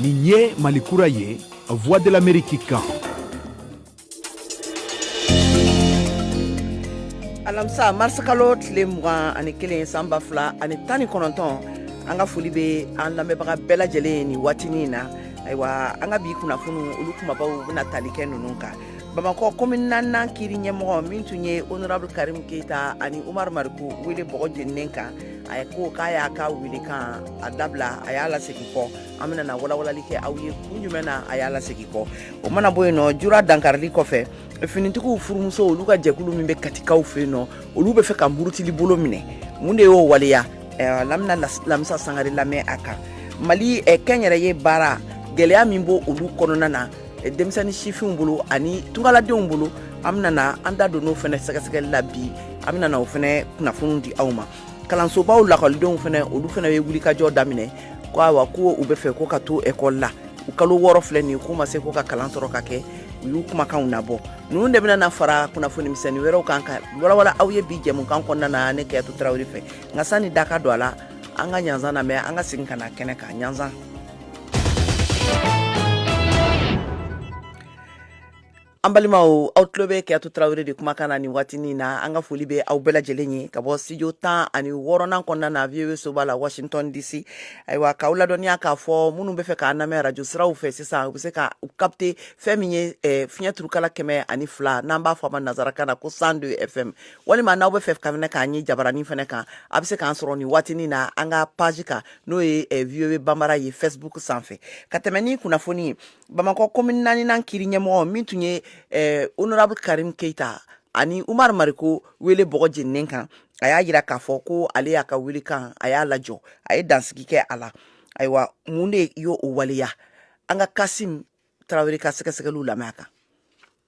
nin ye mali kura ye voix de l'amérique kan alamisa marisikalo tile mugan ani kelen san ba fila ani tan ni kɔnɔntɔn an ka foli bɛ an lamɛnbaga bɛɛ lajɛlen ye nin waatinin na ayiwa an ka bi kunnafoni olu kumabaw bɛna tali kɛ ninnu kan bamakɔ komin naaninan kiri ɲɛmɔgɔ min tun ye honorable karim keyita ani umar mariko wele bɔgɔ jeninen kan a ko k'a y'a ka wele kan a dabila a y'a lasegin kɔ an bɛna na walawalali kɛ aw ye kun jumɛn na a y'a lasegin kɔ o mana bɔ yen nɔ jura dankarili kɔfɛ finitigiw furumuso olu ka jɛkulu min bɛ katikaw fɛ yen nɔ olu bɛ fɛ ka murutili bolo minɛ mun de y'o waleya an bɛna lamisa sangare lamɛn a kan mali kɛnyɛrɛye baara gɛlɛya min b' olu kɔnɔna na eh, denmisɛnnin sifinw bolo ani tungaladenw bolo an bɛna na an da don n'o fɛnɛ sɛgɛsɛgɛli la bi an bɛna na o fɛnɛ kunnafoni di aw ma kalansobaw lakɔlidenw fɛnɛ olu fɛnɛ bɛ wulikajɔ daminɛ ko awa ko u bɛ fɛ ko ka to ekɔli la u kalo wɔɔrɔ filɛ nin k'u ma se ko ka kalan sɔrɔ ka kɛ u y'u kumakanw nabɔ ninnu de bɛna na fara kunnafoni misɛnnin wɛrɛw kan ka walawala aw ye bi jɛmukan kɔnɔna na ne kɛyatu tarawele fɛ nka sani da ka don a la an ka ɲanzan lamɛn an ka segin ka na kɛnɛ kan ɲanzan An balima aw tulo bɛ kɛyatu tarawele de kumakan na ni waati in na an ka foli bɛ aw bɛɛ lajɛlen ye ka bɔ studio 10 ani wɔɔrɔnan kɔnɔna na VOA soba la Washington DC ayiwa k'aw ladɔnniya k'a fɔ minnu bɛ fɛ k'an lamɛn arajo siraw fɛ sisan u bɛ se ka u capter fɛn min ye eh, fiɲɛ turukala kɛmɛ ani fila n'an b'a fɔ a ma nanzarakan na ko 102 FM walima n'aw bɛ fɛ ka fɛnɛ k'an ye jabaranin fɛnɛ kan a bɛ se k'an sɔrɔ nin waati in na an ka page kan n'o ye eh, voa banbara ye facebook sanfɛ ka tɛmɛ ni kunnafoni ye bamakɔ komin naaninan kiri ɲɛmɔgɔ min tun ye eh, honorable karim keita ani umar mariko wele bɔgɔ jeninen kan a y'a jira k'a fɔ ko ale y'a ka wele kan a y'a lajɔ a ye dansigi kɛ a la ayiwa mun de y'o o waleya an ka kasim tarawele ka sɛgɛsɛgɛliw lamɛn a kan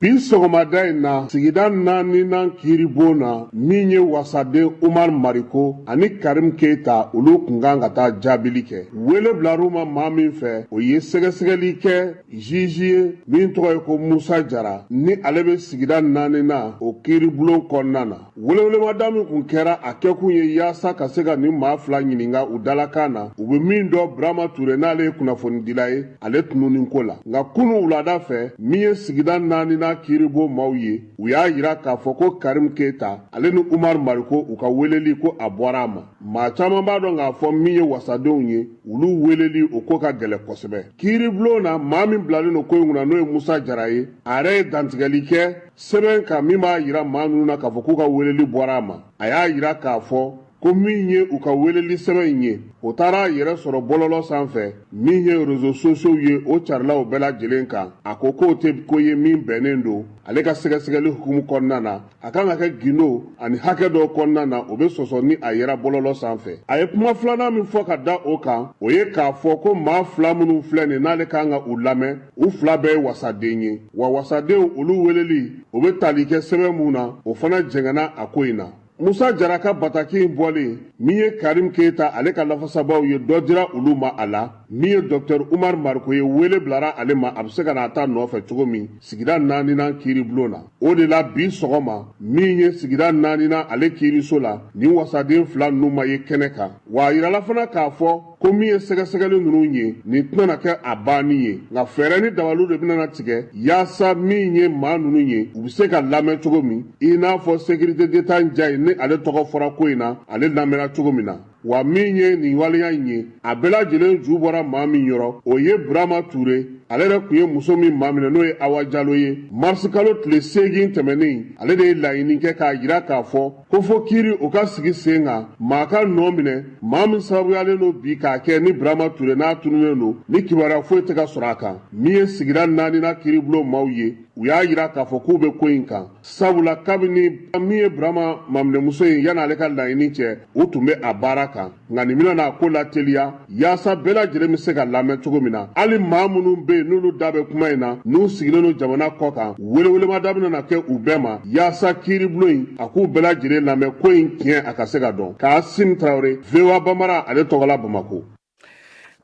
bi sɔgɔmada in na sigida naaninan kiiribon na min ye wasaden umar mariko ani karim keita olu kun kan ka taa jaabili kɛ wele bilar'u ma maa min fɛ o ye sɛgɛsɛgɛli kɛ juge ye min tɔgɔ ye ko musa jara ni ale bɛ sigida naaninan o kiiribulon kɔnɔna na Welewelemada min kun kɛra a kɛkun ye yaasa ka se ka nin maa fila ɲininka u dalakan na u bɛ min dɔn burama ture n'ale ye kunnafonidila ye ale tununni ko la nka kunun wulada fɛ min ye sigida naaninan kiiribon maaw ye u y'a yira k'a fɔ ko karimu keyita ale ni umaru mariko u ka weleli ko a bɔra a ma maa caman b'a dɔn k'a fɔ min ye wasadenw ye olu weleli o ko ka gɛlɛ kosɛbɛ kiiribulon na maa min bilalen don ko in kunna n'o ye musa jara ye a yɛrɛ ye dantigɛli kɛ sɛbɛn kan min b'a yira maa ninnu na k'a fɔ k'u ka weleli bɔra a ma a y'a yira k'a fɔ ko min ye u ka weleli sɛbɛn in ye o taara a yɛrɛ sɔrɔ bɔlɔlɔ sanfɛ min ye rezo sosiyow ye o carilaw bɛɛ lajɛlen kan a ko k'o tɛ ko ye min bɛnnen don ale ka sɛgɛsɛgɛli hukumu kɔnɔna na a kan ka kɛ gindo ani hakɛ dɔw kɔnɔna na o bɛ sɔsɔ ni a yera bɔlɔlɔ sanfɛ a ye kuma filanan min fɔ ka da o kan o ye k'a fɔ ko maa fila minnu filɛ nin n'ale kan ka u lamɛn u fila bɛɛ ye wasaden ye wa wasadenw olu weleli o bɛ tali kɛ sɛbɛn mun na o fana jɛngɛnna a ko in na musa jara ka bataki in bɔlen min ye karim keyita ale ka lafasabaw ye dɔ dira olu ma a la min ye dɔktɛr umar mariko ye wele bilara ale ma a bɛ se ka na a ta nɔfɛ cogo min sigida naaninan kiiribulon na o de la bi sɔgɔma min ye sigida naaninan ale kiiriso la nin wasaden fila ninnu ma ye kɛnɛ kan wa a yirala fana k'a fɔ ko min ye sɛgɛsɛgɛli ninnu ye nin tɛna na kɛ a banni ye nka fɛɛrɛ ni dabaliw de bɛna na tigɛ yaasa min ye maa ninnu ye u bɛ se ka lamɛn cogo min i n'a fɔ sekirite deta njaye ni ale tɔgɔ fɔra ko in na ale lamɛnna cogo min na wa min ye nin waleya in ye a bɛɛ lajɛlen ju bɔra maa min yɔrɔ o ye burama ture ale yɛrɛ kun ye muso min maminɛ n'o ye awa jalo ye marisikalo tile seegin tɛmɛnen ale de ye laɲini kɛ k'a yira k'a fɔ ko fo kiiri o ka sigi sen kan maa ka nɔ minɛ maa min sababuyalen don bi k'a kɛ ni burama ture n'a tununnen don ni kibaruya foyi tɛ ka sɔrɔ a kan min ye sigida naaninan kiiribulon maaw ye u y'a yira k'a fɔ k'u bɛ ko in kan sabula kabini min ye burama maminɛmuso ye yan'ale ka laɲini cɛ u tun bɛ a baara kan nka nin bɛna n'a ko lateliya yaasa bɛɛ lajɛlen bɛ se ka lamɛn cogo min na hali maa minnu bɛ yen n'olu da bɛ kuma in na n'u sigilen don jamana kɔ kan welewelemada bɛna na kɛ u bɛɛ ma yaasa kiiribulon in a k'u bɛɛ lajɛlen lamɛn ko in tiɲɛ a ka se ka dɔn kasim tarawele voa bambara ale tɔgɔla bamako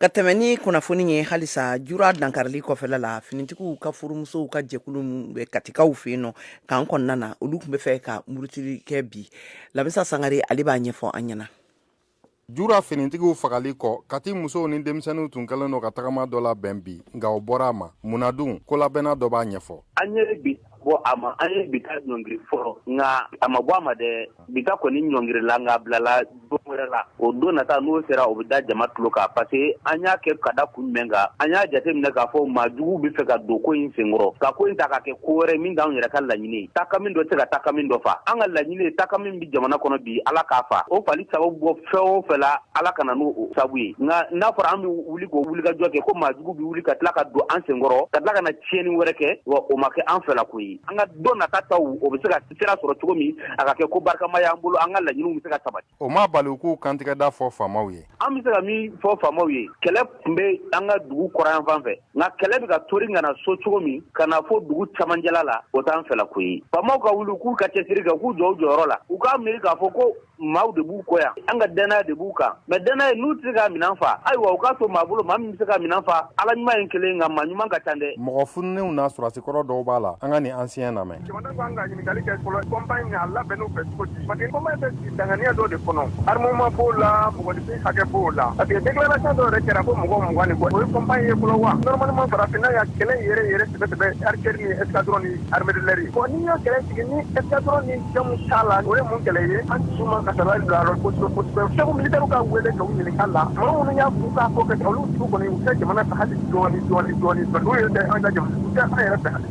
ka tɛmɛ ni kunnafoni ye halisa jura dankarili kɔfɛla la finitigiw ka furumusow ka jɛkulu min bɛ katikaw fɛ yen nɔ kan kɔnɔna na olu kun bɛ fɛ ka murutili kɛ bi lamisa sangare ale b'a ɲɛfɔ an ɲɛna jura finitigiw fagali kɔ kati musow ni denmisɛnninw tun kɛlen don ka tagama dɔ labɛn bi nka o bɔra a ma munna dun kolabɛnna dɔ b'a ɲɛfɔ an ye bi ta bɔ a ma an ye bi ta ɲɔngiri fɔlɔ nka a ma bɔ a ma dɛ bi ta kɔni ɲɔngirila nka bilala don wɛrɛ la o don nata n'o sera o bɛ da jama tulo kan parce que an y'a kɛ ka da kun jumɛn kan an y'a jate minɛ k'a fɔ maa juguw bɛ fɛ ka don ko in senkɔrɔ ka ko in ta ka kɛ ko wɛrɛ min t'anw yɛrɛ ka laɲini ye takami dɔ tɛ se ka takami dɔ fa an ka laɲini ye takami jamana kɔnɔ bi ala k'a fa o fali sababu bɔ fɛn o fɛn la ala ka na n'o sabu ye nka n'a fɔra an bɛ wuli k'o wulikajɔ kɛ ko maajugu bɛ wuli ka tila ka don an senkɔrɔ ka tila ka na tiɲɛni wɛrɛ kɛ wa o ma kɛ an fɛla ko ye an ka don nata taw o bɛ se ka sira sɔrɔ cogo min a ka kɛ ko barikama y'an bolo an ka laɲiniw bɛ se ka sabati o ma bali u k'u kantigɛda fɔ faamaw ye an bɛ se ka min fɔ faamaw ye kɛlɛ tun bɛ an ka dugu kɔrɔnyanfan fɛ nka kɛlɛ bɛ ka tori ka na so cogo min ka na fɔ dugu camancɛla la o t'an fɛla ko ye faamaw ka wuli k'u ka cɛsiri kɛ k'u jɔ u jɔyɔrɔ la u k'a miiri k'a fɔ ko maaw de b'u kɔ yan an ka dannaya de b'u kan mais dannaya n'u tɛ se ka minɛn fa ayiwa u k'a to maa bolo maa min bɛ se ka minɛn fa ala ɲuman ye kelen nka maa ɲuman ka ca dɛ mɔgɔ fununenw na sɔrɔdasi kɔrɔ dɔw b'a la an ka nin ancien lamɛn Jamana kan ka ɲininkali kɛ fɔlɔ compagnie in a labɛnn'u fɛ cogo di parce que compagnie bɛ sigi danganiya dɔ de kɔnɔ armement b'o la mɔgɔninfin hakɛ b'o la parce que déclaration dɔ yɛrɛ kɛra ko mɔgɔ mugan ni kɔ o ye compagnie ye fɔlɔ wa normalement farafinna ya kɛlɛ yɛrɛ yɛrɛ sɛbɛ sɛbɛ artillerie ni escadron ni armée de l'air ye bon n'i y'o kɛlɛ sigi ni escadron ni jamu t'a la o ye mun kɛlɛ ye an dusu man ka sabali bila yɔrɔ kosɛbɛ kosɛbɛ chef militaire ka wele k'u ɲininka la mɔgɔ minnu y'a f'u k'a ko kɛ olu tigiw kɔni u tɛ jamana fɛ hali dɔɔni dɔɔni dɔɔni n'u ye tɛ an ka jamana u tɛ an yɛrɛ fɛ hali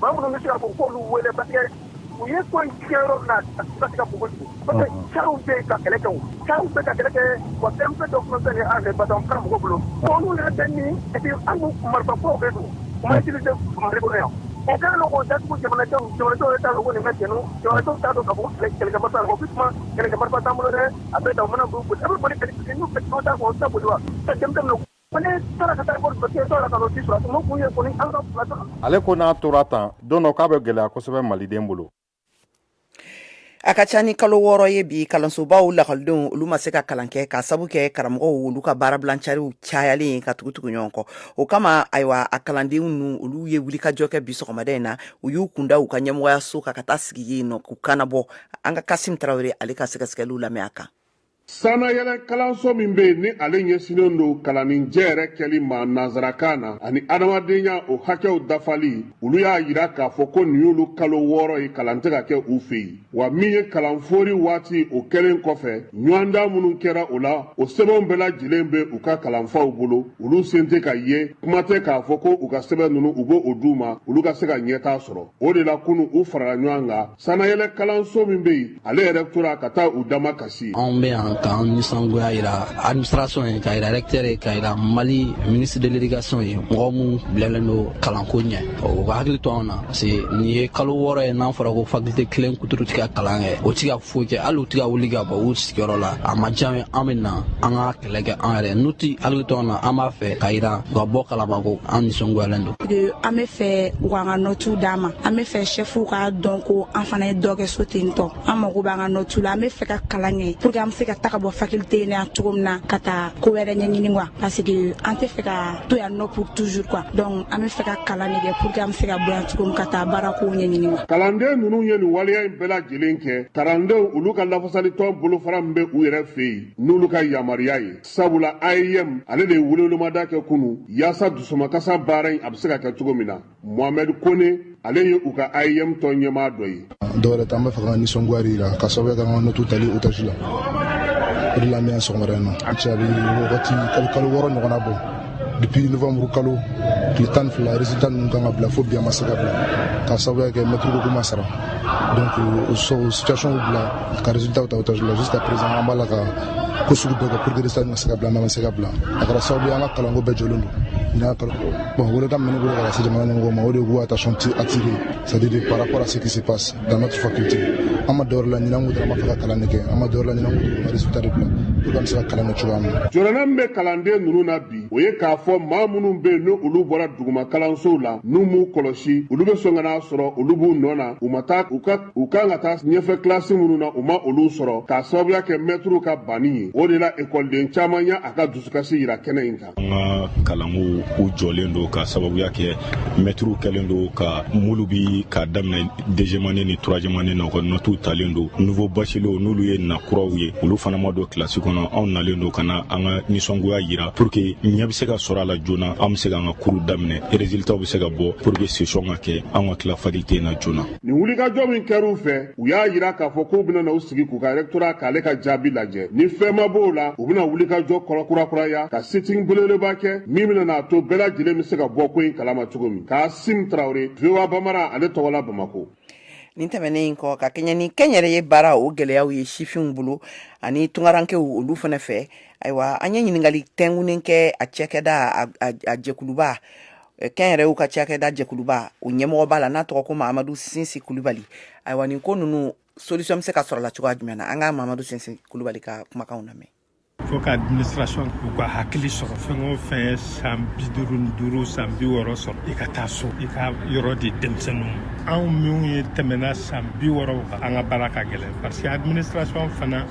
Maa minnu bɛ se ka fɔ k'olu wele parce que u ye ko in kɛ yɔrɔ min na a tɛ se ka bɔ yen, parce que cariw bɛ yen ka kɛlɛ kɛ, cariw bɛ ka kɛlɛ kɛ wa terroriste dɔ tun bɛ fɛn kɛ an fɛ yen parce que a tun bɛ mɔgɔw bolo, bon olu yɛrɛ bɛ min et puis an dun marifa kuraw de don u ma utiliser Mali kɔnɔ yan, o kɛlen don k'o datugu jamanadenw, jamanadenw yɛrɛ t'a dɔn ko nin bɛ senna, jamanadenw t'a dɔn k'a fɔ ko kɛlɛkɛ marifa t'an bolo, ko sisan kɛlɛkɛ marifa t'an bolo dɛ, a bɛ tan, u mana boli, a bɛ boli kɛ ni fɛn min ye, n'u bɛ taa u bɛ taa boli wa? Ale ko n'a tora tan don dɔ k'a bɛ gɛlɛya kosɛbɛ maliden bolo a ka ca ni kalo wɔɔrɔ ye bi kalansobaw lakɔlidenw olu ma se ka kalan kɛ ka sabu kɛ karamɔgɔw olu ka baarabilancariw cayalen ka tugu tugu ɲɔgɔn kɔ o kama ayiwa a kalandenw ninnu olu ye wulikajɔ kɛ bi sɔgɔmada in na u y'u kunda u ka ɲɛmɔgɔyaso kan ka taa sigi yen nɔ k'u kannabɔ an ka kasim tarawele ale ka sɛgɛsɛgɛliw lamɛn a kan Sannayɛlɛ kalanso min bɛ yen ni ale ɲɛsinnen don kalanni jɛ yɛrɛ kɛli ma nanzarakan na ani adamadenya o hakɛw dafali olu y'a yira k'a fɔ ko nin y'olu kalo wɔɔrɔ ye kalan tɛ ka kɛ u fɛ yen wa min ye kalan fori waati o kɛlen kɔfɛ ɲɔgɔndan minnu kɛra o la o sɛbɛnw bɛɛ lajɛlen bɛ u ka kalanfaw bolo olu sen tɛ ka ye kuma tɛ k'a fɔ ko u ka sɛbɛn ninnu u bɛ o d'u ma olu ka se ka ɲɛtaa sɔrɔ o de la kunu u farala ɲɔgɔn kan sanayɛlɛ kalanso min bɛ yen ale rectorat ka taa u damakasi anw bɛ yan k'an nisɔngoya yira administration ye k'a yira recteur ye k'a yira mali ministre de l'éducation ye mɔgɔ minnu bilalen don kalanko ɲɛ u ka hakili to anw na parce que nin ye kalo wɔɔrɔ ye n'a fɔra ko faculté kelen kuturu ti ka kalan kɛ o ti ka foyi kɛ hali u ti ka wuli ka bɔ u sigiyɔrɔ la a ma diya an ye an bɛ na an ka kɛlɛ kɛ an yɛrɛ n'u ti hakili to an na an b'a fɛ ka yira u ka bɔ kalama ko an nisɔngoyalen don an be fɛ u k'an ka nɔtiw d'an ma an be fɛ sɛfuw k'a dɔn ko an fana ye dɔ kɛ so ten tɔ an mago b'an ka nɔtiw la an be fɛ ka kalan kɛ pour que an be se ka taga bɔ faculté in na cogo min na ka taa ko wɛrɛ ɲɛɲini quoi parce que an tɛ fɛ ka to yan nɔ pour toujours quoi donc an be fɛ ka kalan ne kɛ pour que an be se ka bɔ yan cogo min ka taa baara kow ɲɛɲini wa kalanden ninnu ye nin waleya in bɛɛ lajɛlen kɛ kalandenw olu ka lafasalitɔn bolofara min be u yɛrɛ fɛ yen n'olu ka yamaruya ye sabula aeem ale de ye welewelemada kɛ kunu yaasa dusumakasa baara in a bɛ se ka kɛ cogo min na mohamɛd kone ale ye u ka aeem tɔn ɲɛmaa dɔ ye dɔwɛrɛ t'an b'a fɛ ka nisɔngoya jira ka sababu kɛ an ka nɔtu tali otaji la o de la an bɛ yan sɔgɔmada in na a cɛ a bɛ wagati kalo wɔɔrɔ ɲɔgɔnna bɔ depuis novembre kalo tile tan fila résultat ninnu kan ka bila fo bi a ma se ka bila ka sababuya kɛ mɛtiriw ko k'u ma sara donc o euh, situation bila ka résultat ta otage la jusqu'à présent an b'a la ka ko sugu bɛɛ kɛ pour que résultat ka se ka bila mais a ma se ka bila a kɛra sababu ye an ka kalanko bɛɛ jɔlen don nin y'a kalo bon welekan min bɛ ne bolo ka lase jamana ɲɛmɔgɔw ma o de ye k'u attention attirer C'est à dire par rapport à ce qui se passe dans notre faculté an ma dɔwɛrɛ laɲini an ko dɔrɔn an b'a fɛ ka kalan de kɛ an ma dɔwɛrɛ laɲini an ko dɔrɔn ka résultat de bila pour que an bɛ se ka kalan kɛ cogoya min na. jɔrɔna min bɛ kalanden ninnu na bi o ye k'a fɔ maa minnu bɛ yen ni olu bɔra duguma kalansow la n'u m'u kɔlɔsi olu bɛ sɔn ka n'a sɔrɔ olu b'u nɔ na u ma taa u ka kan ka taa ɲɛfɛ kilasi minnu na u ma olu sɔrɔ k'a sababuya kɛ mɛtiriw ka banni ye o de la ekɔliden caman y'a a ka dusukasi jira kɛnɛ in kan. an ka kalanko u jɔlen don ka sababuya kɛ mɛtiriw kɛlen don ka muruti k'a daminɛ deuxième année ni troisième année na u ka nɔtuw talen don nouveaux bacheliers n'olu ye na kuraw ye olu fana ma don kilasi kɔnɔ anw nalen don ka na an ka nisɔngoya yira pour que ɲɛ bɛ se ka sɔrɔ a la joona an bɛ se k'an ka kuru daminɛ résultatw bɛ se ka bɔ pour que session ka kɛ an ka tila faculté in na joona nin wulikajɔ min kɛra u fɛ u y'a jira k'a fɔ k'u bɛna na u sigi k'u ka rectorat k'ale ka jaabi lajɛ ni fɛn ma b'o la u bɛna wulikajɔ kɔrɔ kurakuraya ka sit-in belebeleba kɛ min bɛna n'a to bɛɛ lajɛlen bɛ se ka bɔ ko in kalama cogo min kasim tarawele voa bambara ale tɔgɔ la bamako nin tɛmɛnen in kɔ ka kɛɲɛ ni kɛnyɛrɛye baara o gɛlɛyaw ye sifinw bolo ani tungarankew olu fana fɛ ayiwa an ye ɲininkali tɛngunen kɛ a cakɛda a jɛkuluba kɛnyɛrɛyew ka cakɛda jɛkuluba o ɲɛmɔgɔba la n'a tɔgɔ ko mamadu sinsi kulubali ayiwa nin ko ninnu solution bɛ se ka sɔrɔ la cogoya jumɛn na an ka mamadu sinsi kulubali ka kumakanw lamɛn faut que administration k'u ka hakili sɔrɔ fɛn o fɛn ye san bi duuru ni duuru san bi wɔɔrɔ sɔrɔ i ka taa so i ka yɔrɔ di denmisɛnninw anw minnu ye tɛmɛna san bi wɔɔrɔ kan an ka baara ka gɛlɛn parce que administration fana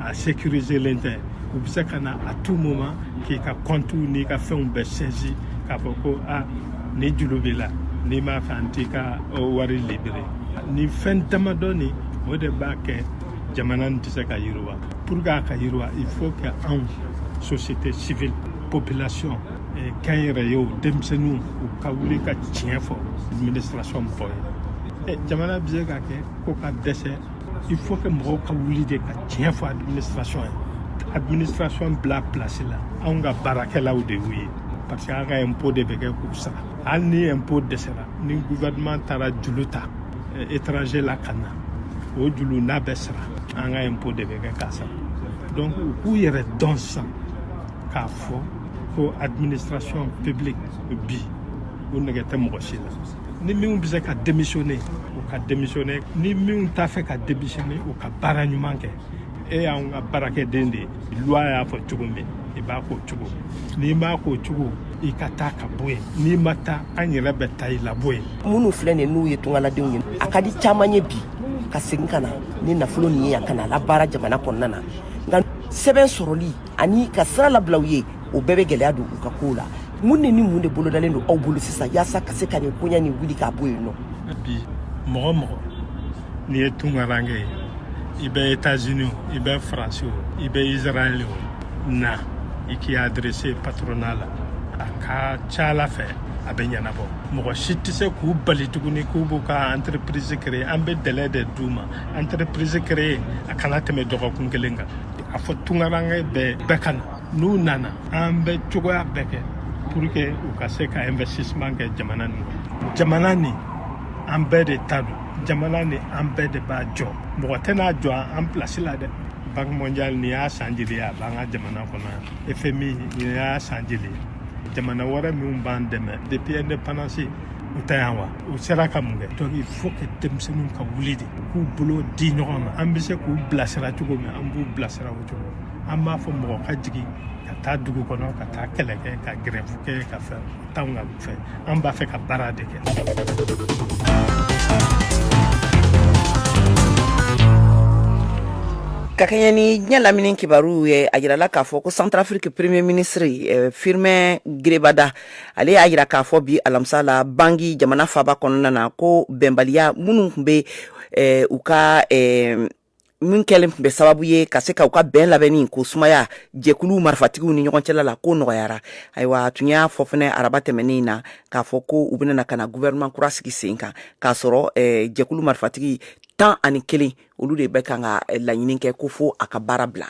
a sécuriselen tɛ u bɛ se ka na à tout moment k'i ka compte n'i ka fɛnw bɛɛ saisi k'a fɔ ko a ni juru b'i la n'i m'a fɛ an t'i ka wari libérer nin fɛn damadɔnin o de b'a kɛ jamana nin tɛ se ka yiriwa pour que a ka yiriwa il faut que anw société civile population kɛnyɛrɛyew denmisɛnninw u ka wuli ka tiɲɛ fɔ administration mɔgɔ ye jamana bɛ se ka kɛ ko ka dɛsɛ il faut que mɔgɔw ka wuli de ka tiɲɛ fɔ administration ye administration bila place la anw ka baarakɛlaw de y'u ye parce que an ka impôt de bɛ kɛ k'u sara hali ni impôt dɛsɛra ni gouvernement taara julu ta eh, étranger la ka na o julu n'a bɛ sara an ka impôt de bɛ kɛ k'a sara donc u k'u yɛrɛ dɔn sisan k'a fɔ ko administration publique bi u nege tɛ mɔgɔ si la ni minnu bɛ se ka démissionner u ka démissionner ni minnu t'a fɛ ka démissionner u ka baara ɲuman kɛ e y'an ka baarakɛden de ye loi y'a fɔ cogo min i b'a k'o cogo n'i m'a k'o cogo i ka taa ka bɔ yen n'i ma taa an yɛrɛ bɛ taa i labɔ yen minnu filɛ nin n'u ye tungaladenw ye a ka di caman ye bi ka segin ka na ni nafolo nin ye yan ka na a labaara jamana kɔnɔna na nka sɛbɛn sɔrɔli ani ka sira labila u ye o bɛɛ bɛ gɛlɛya don u ka kow la mun ni ni mun de bolodalen don aw bolo sisan yaasa ka se ka nin koɲa nin wuli k'a bɔ yen non bi mɔgɔ o mɔgɔ n'i ye tungaranke ye i bɛ etazini o i bɛ faransi o i bɛ israɛli o na i k'i adresser patronat la a ka ca ala fɛ a bɛ ɲɛnabɔ mɔgɔ si tɛ se k'u bali tuguni k'u b'u ka entreprise créer an bɛ délai de d'u ma entreprise créer a kana tɛmɛ dɔgɔkun kelen kan a fɔ tungaranke bɛɛ bɛɛ ka na n'u nana an bɛ cogoya bɛɛ kɛ pour que u ka se ka investissement kɛ jamana nin kɔnɔ jamana nin an bɛɛ de ta don jamana nin an bɛɛ de b'a jɔ mɔgɔ tɛn'a jɔ an place la dɛ banque mondiale nin y'a san jeli ye a b'an ka jamana kɔnɔ yan fmi nin y'a san jeli ye jamana wɛrɛ minnu b'an dɛmɛ depuis indépendance u tɛ yan wa u sera ka mun kɛ donc il faut que denmisɛnninw ka wuli de k'u bolo di ɲɔgɔn ma an bɛ se k'u bilasira cogo min an b'u bilasira o cogo an b'a fɔ mɔgɔ ka jigin ka taa dugu kɔnɔ ka taa kɛlɛ kɛ ka gɛrɛfu kɛ ka fɛn t'anw ka fɛ an b'a fɛ ka baara de kɛ ka kɛɲɛ ni diɲɛ lamini kibaruw ye a yirala k'a fɔ ko centrafrique premier ministre eh, firmin ngrebada ale y'a yira k'a fɔ bi alamisa la bangui jamana faaba kɔnɔna na ko bɛnbaliya minnu tun bɛ eh, u ka eh, min kɛlen tun bɛ sababu ye ka se ka u ka bɛn labɛnni ko sumaya jɛkulu marifatigiw ni ɲɔgɔn cɛla la ko nɔgɔyara ayiwa a tun y'a fɔ fɛnɛ araba tɛmɛnen na k'a fɔ ko u bɛna na ka na gouvernement kura sigi sen kan k'a sɔrɔ eh, jɛkulu marifatigi tan ani kelen olu de bɛ kan ka eh, laɲini kɛ ko fo a ka baara bila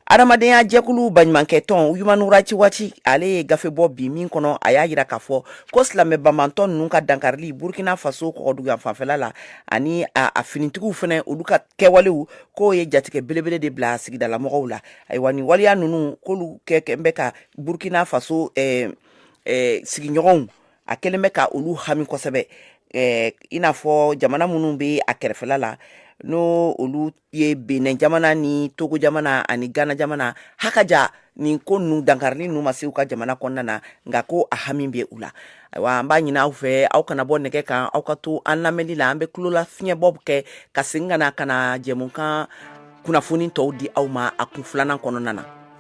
Adamadenya jɛkulu baɲumankɛtɔn human rights watch ale ye gafe bɔ bi min kɔnɔ a y'a jira k'a fɔ ko silamɛ banbantɔ ninnu ka dankarili burukina faso kɔgɔdugu yanfanfɛla la ani a finitigiw fana olu ka kɛwalew k'o ye jatigɛ belebele de bila sigidalamɔgɔw la ayiwa nin waleya ninnu k'olu kɛ kɛ bɛ ka burukina faso sigiɲɔgɔnw a kɛlen bɛ ka olu hami kosɛbɛ i n'a fɔ jamana minnu bɛ a kɛrɛfɛla la n'o olu ye benin jamana ni togo jamana ani gana jamana hakaja nin ko ninnu dankarili ninnu ma se u ka jamana kɔnɔna na nka ko a hami bɛ u la ayiwa an b'a ɲini aw fɛ aw kana bɔ nɛgɛ kan aw ka to an lamɛnni la an bɛ tulola fiɲɛbɔ kɛ ka segin ka na ka na jɛmukan kunnafoni tɔw di aw ma a kun filanan kɔnɔna na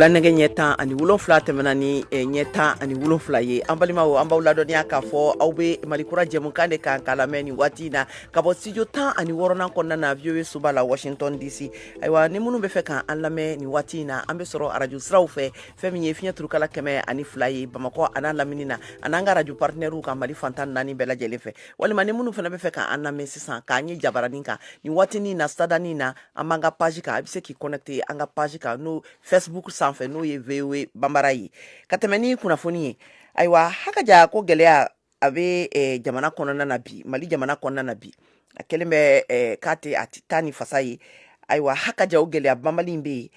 wula nɛgɛ ɲɛ tan ani wolonfila tɛmɛna ni eh, ɲɛ tan ani wolonfila ye an balimaw an b'aw ladɔnniya k'a fɔ aw bɛ malikura jɛmukan de kan k'a lamɛn nin waati na ka bɔ studio tan ani wɔrɔnan kɔnɔna na voa soba la washington dc ayiwa ni minnu bɛ fɛ ka an lamɛn nin waati in na an bɛ sɔrɔ arajo siraw fɛ fɛn min ye fiɲɛ turukala kɛmɛ ani fila ye bamakɔ an'a lamini na an'an ka arajo partenaires ka mali fan tan naani bɛɛ lajɛlen fɛ walima ni minnu fana bɛ fɛ k'an lamɛn sisan k'an ye jabaranin kan nin waatinin na sadanin na an b'an ka page kan a bɛ se k'i connecte an ka page kan n'o facebook sanfɛ n'o ye voa bambara ye ka tɛmɛ ni kunnafoni ye ayiwa hakaja ko gɛlɛya a bɛ eh, jamana kɔnɔna na bi mali jamana kɔnɔna na bi a kɛlen bɛ eh, k'a tɛ a tɛ taa ni fasa ye ayiwa hakaja o gɛlɛya banbali bɛ yen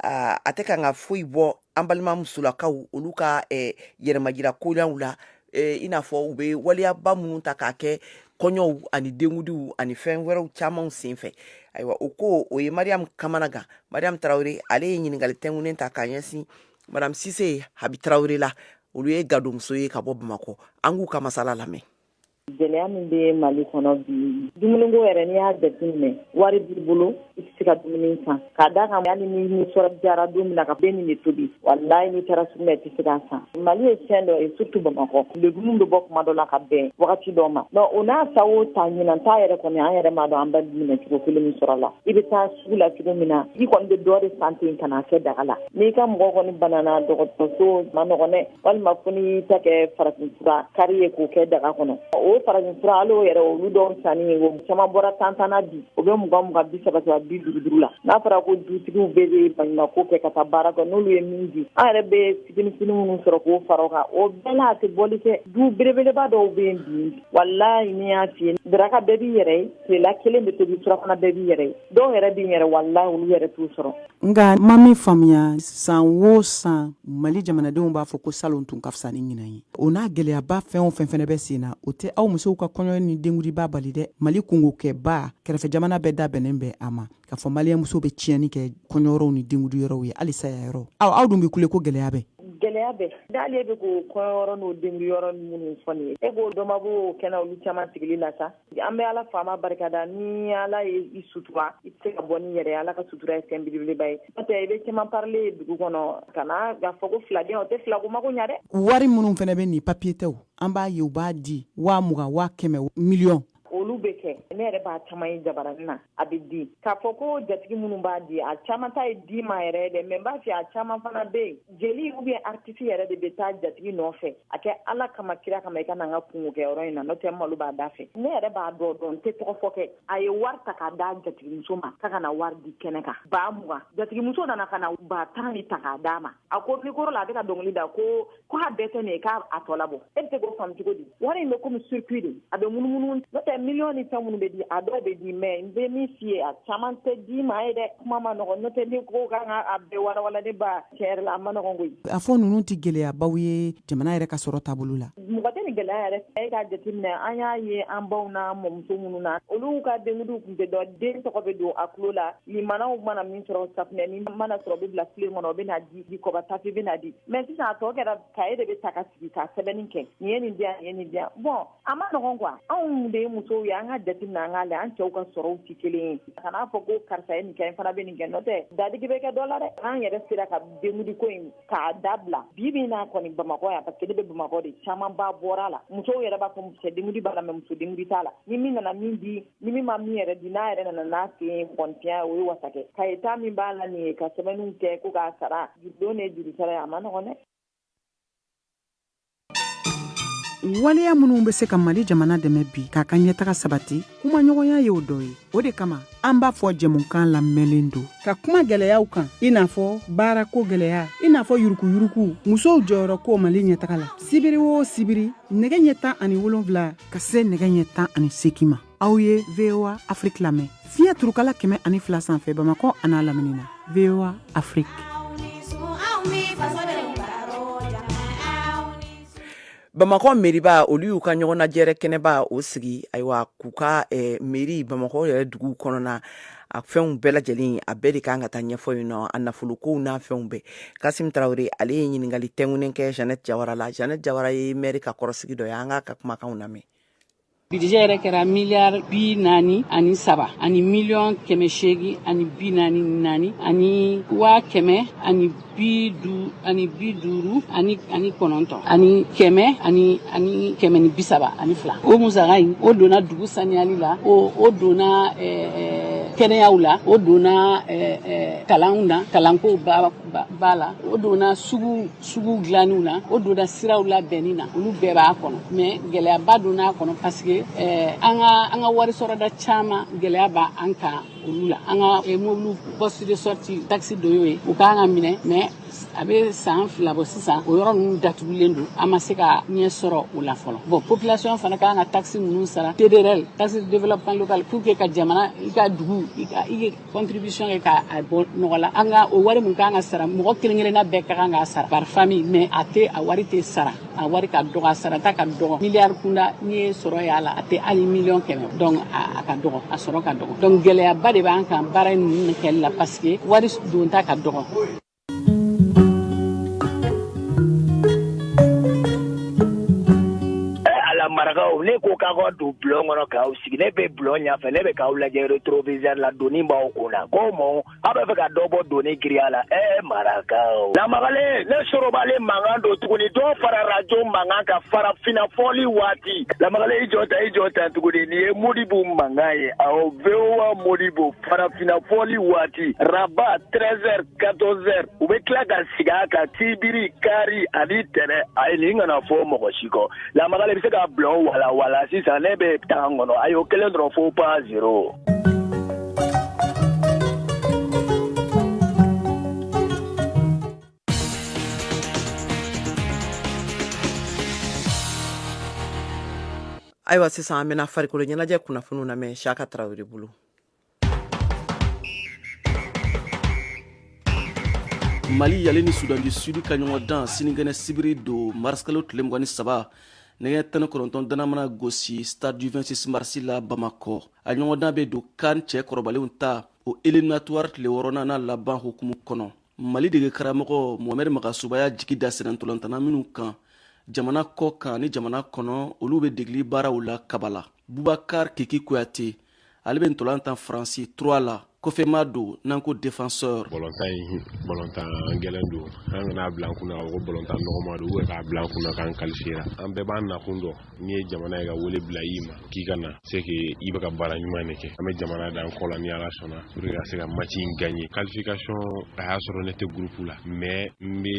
ah, a tɛ ka kan ka foyi bɔ an balima musolakaw olu ka eh, yɛrɛmajira koɲaw la eh, i n'a fɔ u bɛ waleyaba minnu ta k'a kɛ kɔɲɔw ani denkundiw ani fɛn wɛrɛw camanw senfɛ ayiwa o ko o ye mariyamu kamanagan mariyamu tarawele ale ye ɲininkali tɛnkunnen ta k'a ɲɛsin madame sise habi tarawele la olu ye gadonmuso ye ka bɔ bamakɔ an k'u ka masala lamɛn gɛlɛya min bɛ mali kɔnɔ bi dumuniko yɛrɛ n'i y'a jateminɛ wari b'i bolo i tɛ se ka dumuni san k'a da kan hali n'i nisɔndiyara don min na k'an bɛ nin de tobi walayi n'i taara sugu la i tɛ se k'a san mali ye fɛn dɔ ye surtout bamakɔ legumu bɛ bɔ kuma dɔ la ka bɛn wagati dɔ ma donc o n'a sa o ta ɲinan ta yɛrɛ kɔni an yɛrɛ m'a dɔn an bɛ minɛ cogo kelen min sɔrɔ la i bɛ taa sugu la cogo min na i kɔni bɛ dɔ de san ten ka n'a kɛ daga la n'i ka mɔgɔ kɔni banana dɔgɔtɔrɔso ma nɔgɔn dɛ walima ko n'i y'i ta kɛ farafinfura kari ye k'o kɛ daga kɔnɔ o farafinfura hali o yɛrɛ olu dɔw sanni ye o caman bɔra tan tan na bi o bɛ mugan mugan bi saba saba bi duuru duuru la n'a fɔra ko dutigiw bɛɛ bɛ baɲumako kɛ ka taa baara kɛ n'olu ye min di an yɛrɛ bɛ fitini fitini minnu sɔrɔ k'o fara o kan o bɛɛ la a tɛ bɔli kɛ du belebeleba dɔw bɛ yen bi walayi n y'a f'i ye daraka bɛɛ b'i yɛrɛ ye tilela kelen bɛ tobi surafana bɛɛ b'i yɛrɛ ye dɔw yɛrɛ b'i yɛrɛ walayi olu yɛrɛ t'o sɔrɔ Nka ma min faamuya san wo san mali jamanadenw b'a fɔ ko salon tun ka fisa ni ɲinan ye o n'a gɛlɛyaba fɛn o fɛn fana bɛ sen na o tɛ aw musow ka kɔɲɔ ni denkundiba bali dɛ mali kungo kɛba kɛrɛfɛ jamana bɛɛ da bɛnnen bɛ a ma k'a fɔ maliyɛn muso bɛ tiɲɛni kɛ kɔɲɔyɔrɔw ni denkundiyɔrɔw ye hali saya yɔrɔ aw aw dun bɛ kule ko gɛlɛya bɛ gɛlɛya bɛ dalen bɛ ko kɔɲɔyɔrɔ n'o denkundiyɔrɔ minnu fɔ nin ye e b'o dɔ ma bɔ kɛnɛ olu caman sigili la sa an bɛ ala faama barikada ni ala ye i sutura i tɛ se ka bɔ ni yɛrɛ ala ka sutura ye fɛn belebeleba ye n'otɛ i bɛ caman parelen ye dugu kɔnɔ ka na ka fɔ ko filaden o tɛ filako mako ɲa dɛ wari minnu fana bɛ nin papiye tɛw an b'a ye u b'a di waa mugan waa kɛmɛ miliyɔn olu bɛ kɛ ne yɛrɛ b'a caman ye jabarani na a bɛ di k'a fɔ ko jatigi minnu b'a di a caman ta ye di ma yɛrɛ ye dɛ mɛ n b'a fɛ a caman fana bɛ yen jeli ou bien aritisi yɛrɛ de bɛ taa jatigi nɔfɛ a kɛ ala kama kira kama i ka na n ka kungo kɛ yɔrɔ in na n'o tɛ malo b'a da fɛ ne yɛrɛ b'a dɔ dɔn n tɛ tɔgɔ fɔ kɛ a ye wari ta k'a d'a jatigimuso ma k'a ka na wari di kɛnɛ kan ba mugan jatigimuso nana ka na ba tan ni ta k'a d'a ma a ko mikoro la a bɛ ka dɔnkili da ko ko a bɛɛ tɛ nin ye k'a tɔ labɔ e bɛ se k'o faamu cogo di wari in bɛ komi circuit de a bɛ munumunu n'o tɛ miliyɔn ni fɛn minnu bɛ di a dɔw bɛ di mɛ n bɛ min f'i ye a caman tɛ di ma ye dɛ kuma ma nɔgɔn n'o tɛ n'i ko k'an k'a bɛɛ walawala ne ba tiɲɛ yɛrɛ la a ma nɔgɔn koyi a fɔ ninnu tɛ gɛlɛyabaw ye jamana yɛrɛ ka sɔrɔ taabolo la mɔgɔ tɛ nin gɛlɛya yɛrɛ ye k'a jateminɛ an y'a ye an baw n'an mɔmuso minnu na olu ka denkudiw tun tɛ dɔn den tɔgɔ bɛ don a tulo la limanaw mana min sɔrɔ safinɛ ni mana sɔrɔ bɛ bila filen kɔnɔ o bɛna di di kɔba tafe bɛna di mɛ sisan a tɔ kɛra kaye de bɛ ta ka sigi ka sɛbɛnni kɛ nin ye nin di yan nin ye nin di yan bɔn a ma nɔgɔn kuwa anw de ye musow ye an ka jateminɛ an k'a lɛ an cɛw ka sɔrɔw tɛ kelen ye kan'a fɔ ko karisa ye nin kɛ n fana bɛ nin kɛ n'o tɛ dadigi bɛ kɛ dɔ la dɛ an yɛrɛ sera ka denkundi ko in k'a dabila bi bi in na kɔni bamakɔ yan parce que ne bɛ bamakɔ de caman ba bɔra la musow yɛrɛ b'a fɔ cɛ dengudi b'a la mɛ muso dengudi t'a la ni min nana min di ni min ma min yɛrɛ di n'a yɛrɛ nana n'a sen ye bɔntiya o ye wasa kɛ kaye ta min b'a la nin ye ka sɛbɛnniw kɛ ko k'a sara jurudon ni jurusara ye a ma nɔgɔn dɛ waleya minnu bɛ se ka mali jamana dɛmɛ bi k'a ka ɲɛtaga sabati kumaɲɔgɔnya ye o dɔ ye o de kama an b'a fɔ jɛmukan lamɛnlen don ka kuma gɛlɛyaw kan i n'a fɔ baarako gɛlɛya i n'a fɔ yuruguyurugu musow jɔyɔrɔ ko mali ɲɛtaga la sibiri o sibiri nɛgɛ ɲɛ tan ani wolonwula ka se nɛgɛ ɲɛ tan ani seegin ma aw ye voa afrik lamɛn fiɲɛ turukala kɛmɛ ani fila sanfɛ bamakɔ a n'a lamini na voa afrik bamakɔ mɛriba olu y'u ka ɲɔgɔnnajɛrɛ kɛnɛba o sigi ayiwa k'u ka eh, mɛri bamakɔ yɛrɛ dugu kɔnɔna a fɛnw bɛɛ lajɛlen a bɛɛ de kan ka taa ɲɛfɔ yen nɔ a nafolokow n'a fɛnw bɛɛ kasim tarawele ale ye ɲininkali tɛŋunen kɛ janɛt jawara la janɛt jawara ye mɛri ka kɔrɔsigi dɔ ye an k'a ka kumakanw lamɛn Bidijɛ yɛrɛ kɛra miliyari bi naani ani saba ani miliyɔn kɛmɛ seegin ani bi naani naani ani waa kɛmɛ ani bi du ani bi duuru ani ani kɔnɔntɔn ani kɛmɛ ani ani kɛmɛ ni bi saba ani fila o musaka in o donna dugu saniyali la o o donna ɛɛ eh, ɛɛ eh, kɛnɛyaw la o donna eh, eh, kalanw na kalanko b'a la o donna sugu sugu dilaniw na o donna siraw labɛnni na olu bɛɛ b'a kɔnɔ mɛ gɛlɛyaba donna a kɔnɔ paseke eh, an ka an ka wari sɔrɔda caman gɛlɛya b'an kan olu la an ka eh, mobiliw poste de sortie taxe dɔ y'o ye u k'an k'a minɛ mɛ a bɛ san fila bɔ sisan o yɔrɔ ninnu datugulen don an ma se ka ɲɛ sɔrɔ o la fɔlɔ bɔn population fana ka kan ka taxe ninnu sara tdrl taxe de développement local pour que ka jamana i ka dugu i ka i contribution kɛ k'a bɔ nɔgɔ la nka o wari min ka kan ka sara mɔgɔ kelen kelenna bɛɛ ka kan k'a sara par famille mais a tɛ a wari tɛ sara a wari ka dɔgɔ a sarata ka dɔgɔ miliyari kunda n'i ye sɔrɔ y'a la a tɛ hali miliyɔn kɛmɛ donc a ka dɔgɔ a sɔrɔ ka dɔgɔ donc gɛlɛyaba de b'an kan baara ninnu kɛli la parce que wari donta ka dɔgɔ Ala marakaw ne ko k'aw ka don bulon kɔnɔ k'aw sigi ne bɛ bulon ɲɛ fɛ ne bɛ k'aw lajɛ rétroviseur la doni b'aw kun na ko mɔ aw b'a fɛ ka dɔ bɔ doni girinya la ɛ marakaw lamakale ne sorobale mankan don tuguni dɔ fara rajo mankan kan farafinna fɔli waati lamakale i jɔ tan i jɔ tan tuguni nin ye modibo mankan ye awɔ modibo farafinna fɔli waati araba 13 heures 14 heures u bɛ tila ka segin a kan sibiri kari ani tɛnɛ ayi nin kana fɔ mɔgɔ si kɔ lamakale bɛ se ka bulon wala wala sisan ne bɛ taa n kɔnɔ a y'o kelen dɔrɔn fɔ pa zero ayiwa sisan an bɛna farikolo ɲɛnajɛ kunnafoniw lamɛn siyaka tarawele bolo mali ale ni sudan du sud ka ɲɔgɔndan sinikɛnɛ sibiri don marisikalo tile mugan ni saba nɛgɛ ɲɛ tan ni kɔnɔntɔnnan mana gosi stade du 26 marisi la bamakɔ a ɲɔgɔndan bɛ don kan cɛkɔrɔbalenw ta o eliminatuwari tile wɔɔrɔnan n'a laban hukumu kɔnɔ mali dege karamɔgɔ mohamɛd magasuba y'a jigi da senna ntolantanna minw kan jamana kɔ kan ni jamana kɔnɔ olu bɛ degeli baaraw la kabala bubakar kiki kuyate ale bɛ ntolan tan faransi troyes la kɔfɛmaa don n'an ko defenseur bɔlɔntan ye bɔlɔntan gɛlɛn don an kana a bila an kunna ko bɔlɔntan nɔgɔma don ou bien k'a bila an kunna k'an kalifiyera an bɛɛ b'an nakun dɔn n'i ye jamana ye ka wele bila i ma k'i ka na c'est que i bɛ ka baara ɲuman de kɛ an bɛ jamana dan kɔ la ni ala sɔnna pour ka se ka maci in gaɲe kalifikasɔn a y'a sɔrɔ ne tɛ gurupu la mɛ n bɛ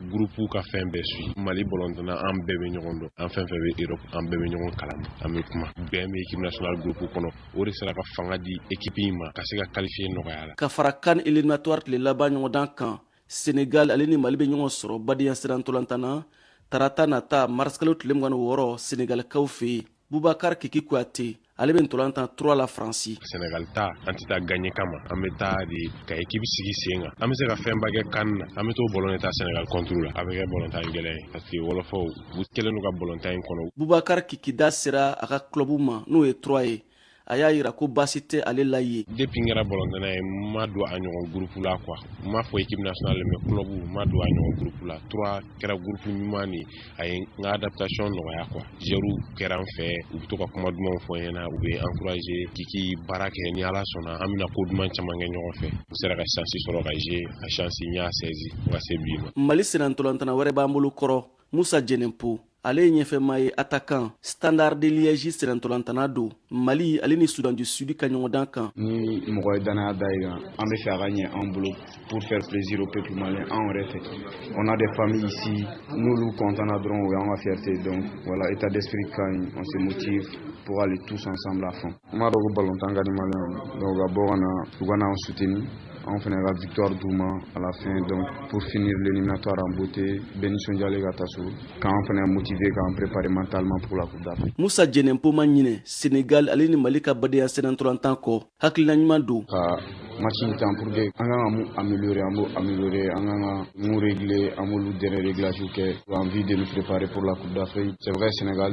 gurupu ka fɛn bɛɛ su mali bɔlɔntanna an bɛɛ bɛ ɲɔgɔn dɔn an fɛn fɛn bɛ europe an bɛɛ bɛ ɲɔgɔn kalama an bɛ kuma bɛn bɛ ekipe national gurupu kɔnɔ o de sera ka fanga di ekipi in ma ka se ka kalifiye nɔgɔya la ka fara CAN eliminatoire tile laban ɲɔgɔndan kan senegal ale ni mali bɛ ɲɔgɔn sɔrɔ badenya sennantolantan na tarata nata marisikalo tile mugan ni wɔɔrɔ senegalikaw fɛ yen bubakar kiki kuyate ale bɛ ntolan tan troyes la faransi senegal ta an tɛ taa gaɲɛ kama an bɛ taa de ka ekipi sigi sen kan an bɛ se ka fɛnba kɛ CAN na an bɛ t'o bɔlɔn de tan senegal kɔnturu la a bɛ kɛ bɔlɔntan gɛlɛn ye parce que wɔlɔfɔw u kɛlen don ka bɔlɔntan in kɔnɔ bubakar kiki da sera a ka clubu ma n'o ye troyes ye a y'a yira ko baasi tɛ ale la yen depuis n kɛra bɔlɔntanna ye n ma don a ɲɔgɔn gurupu la quoi n m'a fɔ équipe nationale mais club n ma don a ɲɔgɔn gurupu la troyes kɛra gurupu ɲuman de a ye n ka adaptation nɔgɔya quoi joueurw kɛra n fɛ u bɛ to ka kuma dumanw fɔ n ɲɛna u bɛ n encourager kiki baara kɛ ni ala sɔnna an bɛna ko duman caman kɛ ɲɔgɔn fɛ n sera ka chance sɔrɔ ka jouer a chance n y'a saisi fo ka se bi ma mali sennantolantanna wɛrɛ b'an bolo kɔrɔ musa jɛnɛpo ale ye ɲɛfɛma ye atakan standard de liège sennantolantanna don mali ale ni sudan du sud ka ɲɔgɔndan kan ni mɔgɔ ye dannaya da i kan an b'a fɛ a ka ɲɛ an bolo pour faire plaisir au peuple malien an yɛrɛ fɛ on a des familles ici n'olu contana dɔrɔn o y'an ka fierté donc voilà état d'esprit ka ɲi on se motive pour aller tous ensemble à fond n b'a dɔn ko balontan ka di malien donc ka bɔ ka na u ka n'an soutenir anw fana ka victoire d'u ma à la fin donc pour finir l'éliminatoire en beauté bɛɛ nisɔndiyalen ka taa so k'an fana motiver k'an préparer mentalement pour la coupe d'Afrique. Musa Jɛnɛpo ma ɲinɛ Sénégal ale ni Mali ka badenya sennantolantan kɔ hakilina ɲuman don. Ka match in tan pour que an kan ka mun améliorer an b'o améliorer an kan ka mun régler an b'olu dernier réglage kɛ en vue de nous préparer pour la coupe d'Afrique c'est vrai Sénégal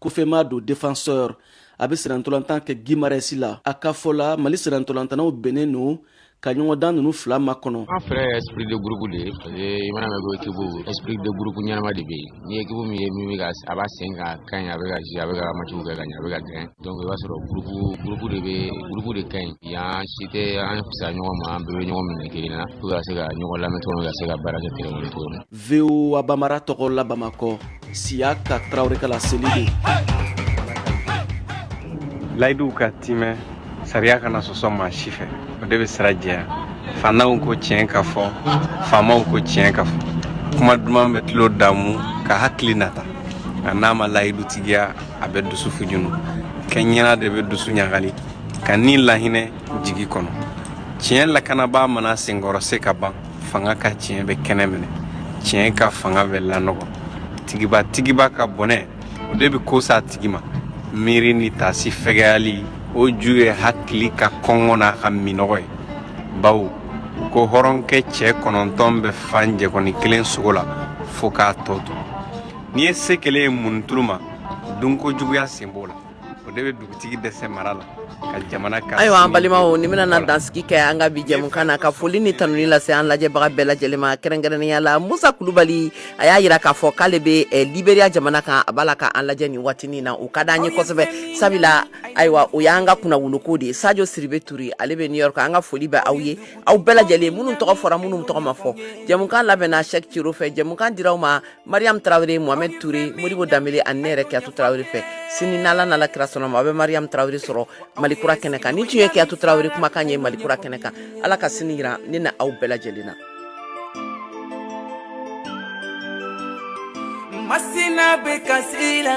kɔfɛma don defenseur a bɛ sennantolantan kɛ gimarɛsi la a ka fɔ la mali sennantolantannaw bɛnnen don ka ɲɔgɔndan ninnu fila makɔnɔ an fɛɛrɛ ye esprit de groupe de ye i mana mɛn ko ekipu esprit de groupe ɲɛnama de bɛ yen ni ekipu min ye min bɛ ka a b'a sen kan ka ɲi a bɛ ka jouer a bɛ ka matchw kɛ ka ɲɛ a bɛ ka gagner donc i b'a sɔrɔ groupe groupe de bɛ groupe de ka ɲi an si tɛ an fisaya ɲɔgɔn ma an bɛɛ bɛ ɲɔgɔn minɛ kelen na pour que ka se ka ɲɔgɔn lamɛn cogo min ka se ka baara kɛ terrain kɔnɔ cogo min VOA bambara tɔgɔ la bamakɔ siyaka tarawele ka laseli don layiduw ka tiimɛ sariya kana na sɔsɔ maa si fɛ o de bɛ sira jɛya faantanw ko tiɲɛ ka fɔ faamaw ko tiɲɛ ka fɔ kuma duman bɛ tulo damu ka hakili nata nka n'a ma layidu tigiya a bɛ dusu fujunu kɛ ɲɛna de bɛ dusu ɲagali ka ni lahinɛ jigi kɔnɔ tiɲɛ lakanabaa mana senkɔrɔcɛ ka ban fanga ka tiɲɛ bɛ kɛnɛ minɛ tiɲɛ ka fanga bɛ lanɔgɔ tigiba tigiba ka bɔnɛ o de bɛ ko sa tigi ma miiri ni taasi fɛgɛyali o ju ye hakili ka kɔngɔ n'a ka minnɔgɔ ye bawo ko hɔrɔnkɛ cɛ kɔnɔntɔn bɛ fa njɛkɔni kelen sogo la fo k'a tɔ to n'i ye se kelen ye munitulu ma dunko juguya sen b'o la o de bɛ dugutigi dɛsɛ mara la ka jamana ka ayiwa an balimaw ni bɛna na dansigi kɛ an ka bi jɛmukan na ka foli ni tanuni lase an lajɛbaga bɛɛ lajɛlen ma kɛrɛnkɛrɛnnenya la musa kulubali a y'a yira k'a fɔ k'ale bɛ eh, liberiya jamana kan a b'a la ka an lajɛ nin waatinin na o ka d'an ye kosɛbɛ sabula ayiwa o y'an ka kunnawoloko de ye sajo siribe ture ale bɛ new york an ka foli bɛ aw ye aw bɛɛ lajɛlen minnu tɔgɔ fɔra minnu tɔgɔ ma fɔ jɛmukan labɛnna sɛk ciro fɛ jɛmukan dira aw ma mariam tarawele mohamɛd ture modibo danbele ani ne yɛrɛ kiyatu tarawele fɛ sini n'ala nala kira sɔnn'a ma a bɛ mariam tarawele sɔrɔ malikura kɛnɛ kan nin tun ye kiyatu tarawele kumakan ye malikura kɛnɛ kan ala ka sini yira ne n'aw bɛɛ lajɛlen na masina bɛ kasi la